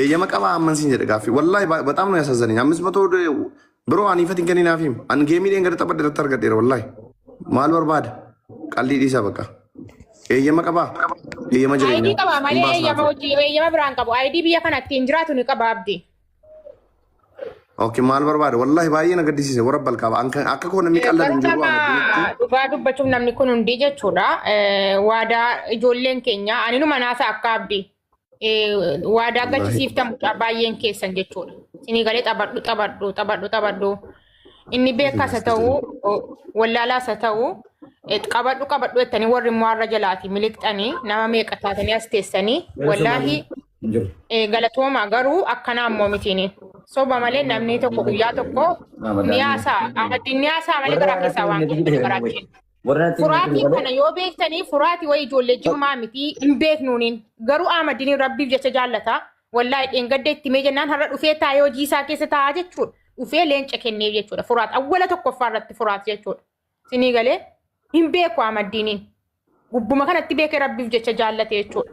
Eeyyama qabaa amman siin jedhe gaaffii. Wallaahi ba- bataam nu yasazzanii. Ammis matoo biroo ani ifatiin kanii naaf hima. Ani geemii dheen gadi taphadhe irratti argadheera wallaahi. Maal barbaada? Qallii dhiisaa bakka. Eeyyama qabaa? Eeyyama Aayidii jireenyaa. qaba Hin malee baasnaa eeyyama ture. hojii eeyyama biraan qabu. Aayidii biyya kana ittiin jiraatu ni qaba abdi. Okay, maal barbaada? Wallaahi baay'ee na gaddisiise warra balkaaba. An kan- Akka koo namni qalladu hin jiru waan addunyaatti. Bartama dhugaa dubbachuuf namni kun hundi jechuudha. Eh, Waadaa ijoolleen keenya aninuma naasa akka abdi. waadaa gachisiiftan mucaa baay'een keessan jechuudha. Isinii galee taphadhu taphadhu taphadhu taphadhu. Inni beekaas haa ta'u wallaalaas haa ta'u qabadhu qabadhu jettanii warri immoo har'a jalaati miliqxanii nama meeqa taatanii as teessanii wallaahi galatooma garuu akkanaa immoo mitiini. Soba malee namni tokko guyyaa tokko ni haasa'a. Amaddiin ni haasa'a malee garaa keessaa waan garaa keessa. Warra natti hin Furaatiin beekne kana malee. yoo beektanii furaati wayi ijoollee jimmaa miti hin beeknuuniin garuu Ahmadiin rabbiif jecha jaallata wallaahi dheengadde itti mee jennaan har'a dhufee taa'ee hojii isaa keessa taa'aa jechuudha dhufee leenca kenneef jechuudha furaat awwala tokkoffaa irratti furaat jechuudha sinii galee hin beeku Ahmadiiniin gubbuma kanatti beekee rabbiif jecha jaallate jechuudha.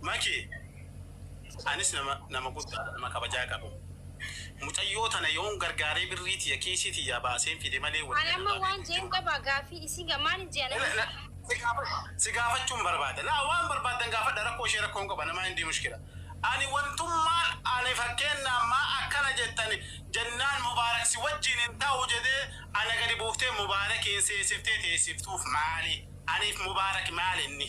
Maki anis nama nama guddaadha nama kabajaa qabu mucayyoo tana yoon gargaaree birrii tiyya kiisii tiyyaa baaseen fide malee woliin Ani amma waan jeen qabaa gaafii isiin ga maalin jean amma isiin. Si gaafachuun barbaada laa waan barbaaddan gaafadha rakkoo ishee rakkoo hin qaba namaa hindii mushkila ani wantummaan ani fakkeenna ammaa akkana jettan jennaan mubaarak si wajjiin hin ta'u jedhee ana gadi buuftee mubaarakiin seesiftee teessiftuuf maali aniif mubaarak maal inni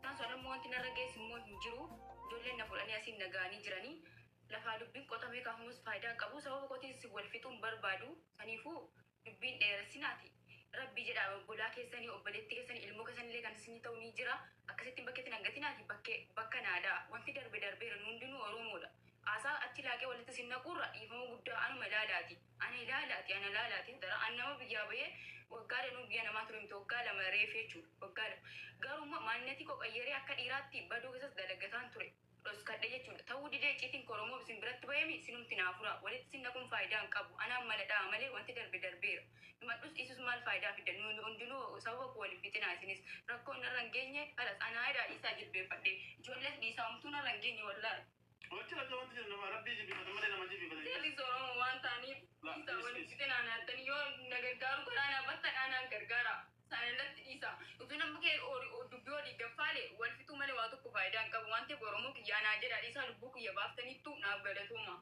Isaan sun ammoo wanti narra geessu immoo hin jiru. Ijoolleen na fuudhanii asiin na ga'anii jiranii. Lafaa dubbiin qotamee kaafamus faayidaa hin qabu. Sababa kootiin isin wal fixuu hin barbaadu. Saniifuu dubbii hin dheeressinaati. Rabbii jedhaa obbolaa keessanii, obboleettii keessanii, ilmoo keessanillee kan isinii ta'u ni jira. Akkasittiin bakkeetti na hin gatinaati. Bakke, bakka naa dha'a. Wanti darbe darbeera. Nu hundinuu Oromoodha. Haasaa achi laaqee walitti isin naquurra dhiifama guddaa anuma ilaalaati. Ani ilaali ati ana ilaali ati hadaraa an nama biyyaa bahee waggaa danuu biyya namaa ture miti waggaa lama reefi jechuudha waggaa lama garuu immoo maannatii koo qayyaree akka dhiiraatti badoo keessas dalagataan ture dhoskadhe jechuudha ta'uu didee icciitiin koo oromoof isin biratti bahemi isinumti naa furaa walitti isin naquun faayidaa hin qabu anaan mala dha'a malee wanti darbe darbeera himadhus dhiisus maal faayidaa fidda nuuni hundinuu sababa koo wal hin fixinaa isinis rakkoon narra hin geenye kalas anaa edaa dhiisaa jilbeeffadhe ijoollees dhiisaa homtuu narra hin geenye wallahi. Wachi lacha wanti jiru nama rabbii jibifatan malee nama jibifatan. Seelis Oromoo waan ta'aniif dhiisaa waliin fixee naan yaaddanii yoo na gargaaru karaa naa battadhaa naan gargaara. Sana irratti dhiisa. Utuu namni kee dubbii olii gaffaale wal fixuu malee waa tokko faayidaa hin qabu waan ta'eef Oromoo kiyyaa naa jedhaa dhiisaa lubbuu kiyya baaftaniittu naaf galatooma.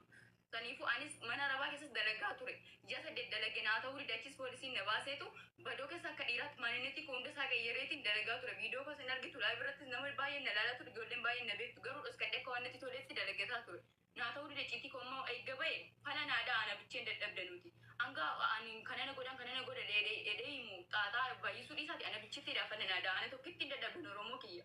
Saniifuu anis mana arabaa keessas dalagaa ture. Ji'a saddeet dalage naa ta'uu dide achiis poolisiin na baaseetu badoo keessa akka dhiiraatti maanineetii koo hunda isaa qayyareetiin dalagaa ture. Viidiyoo koos hin argitu live irrattis namni baay'een na laalaa ture ijoolleen baay'een na beektu garuu dhoskadhee akka waan natti toleetti dalagataa ture. Naa ta'uu dide icciitii koo amma eegga ba'e fala naa dha'a ana bicheen dadhabde nuti. Hanga ani kana na godhan kana na godha jedhee himu xaaxaa baay'isuu dhiisaati ana bichittiidha fala naa dha'a ana tokkittiin dadhabde oromoo kiyya.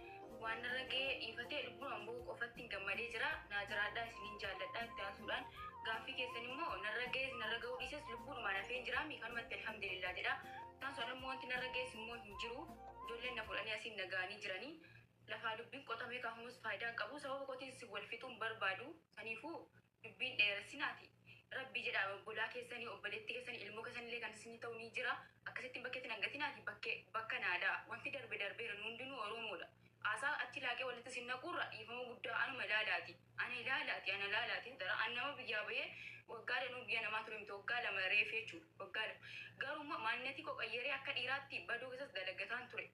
Waan irra ga'ee dhiifatee lubbuun amboo qofatti gammadee jira. Naa jiraadhaa isiniin jaalladhaa itti aansuudhaan gaaffii keessan immoo narra ga'ees narra ga'uu dhiises lubbuudhumaan hafeen jira miikanumatti alhamdulillah jedha. Itti aansuudhaan immoo wanti narra ga'ees immoo hin jiru. Ijoolleen na fuudhanii asiin na ga'anii jiranii. Lafaa dubbiin qotamee kaafamus faayidaa hin qabu. Sababa kootiin si wal fixuun barbaadu. Saniifuu dubbii hin dheeressinaati rabbii jedhaa obbolaa keessani obboleetti keessani ilmoo keessanillee kan isinii ta'u ni jira akkasittiin bakkeetti nan gatinaati bakke bakka naada wanti darbe darbeera nu hundinuu oroomoodha haasaa achi laaqee walitti isin naquurra dhiifama guddaa anuma ilaalaati ana ilaalaati ana ilaalaati hadara an nama biyyaa bahee waggaa danuu biyya namaa ture miti waggaa lama reefi jechuudha waggaa lama garuu immoo maannetii koo qayyaree akka dhiiraatti badoo keessas dalagataan ture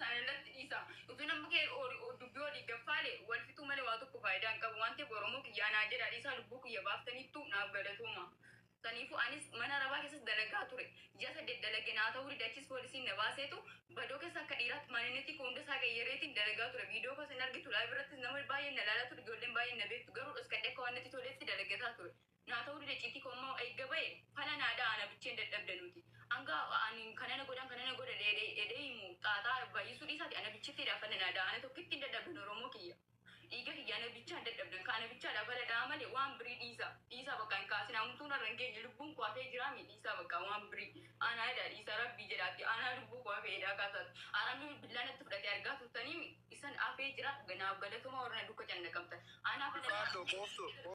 Sana irratti dhiisa. Utuu namni kee ori- o- dubbii olii gaffaale wal fixuu malee waa tokko faayidaa hin qabu waan ta'eef Oromoo kiyya anaa jedhaa dhiisaa lubbuu kiyya baaftaniittu naaf galatooma. Saniifuu anis mana arabaa keessas dalagaa ture. Ji'a saddeet dalage naa ta'uu dide achis poolisiin na baaseetu badoo keessa akka dhiiraatti maaninnetii koo hunda isaa qayyareetiin dalagaa ture. Viidiyoo koos hin argitu live irrattis nama baay'een na laalaa ture ijoolleen baay'een na beektu garuu dhoskadhee akka waan natti toleetti dalagataa ture. naa ta'uu dide citii koo immoo eegga ba'e fala naa da'a ana bicheen dadhabde nuti anga ani kanana godhan kanana godha dheede ede himu xaaxaa baay'isuu dhiisaati ana bichitti dha fala naa da'a ana tokkittiin dadhabdan oromoo kiyya dhiiga kiyya ana bichaan dadhabdan ka ana bichaa dha fala da'a malee waan birii dhiisa dhiisaa bakka hin kaasin hamtuu narra hin geenye lubbuun koo hafee jiraami dhiisaa bakka waan birii aanaa edaa dhiisaa rabbii jedhaati aanaa lubbuu koo hafee edaa kaasaati aramni bilbilaa natti fudhatee argaa turtanii isan hafee jira naaf galatoomaa warra na dukka cannaqamtan aanaa fala da'a Dhugaadho kooftu.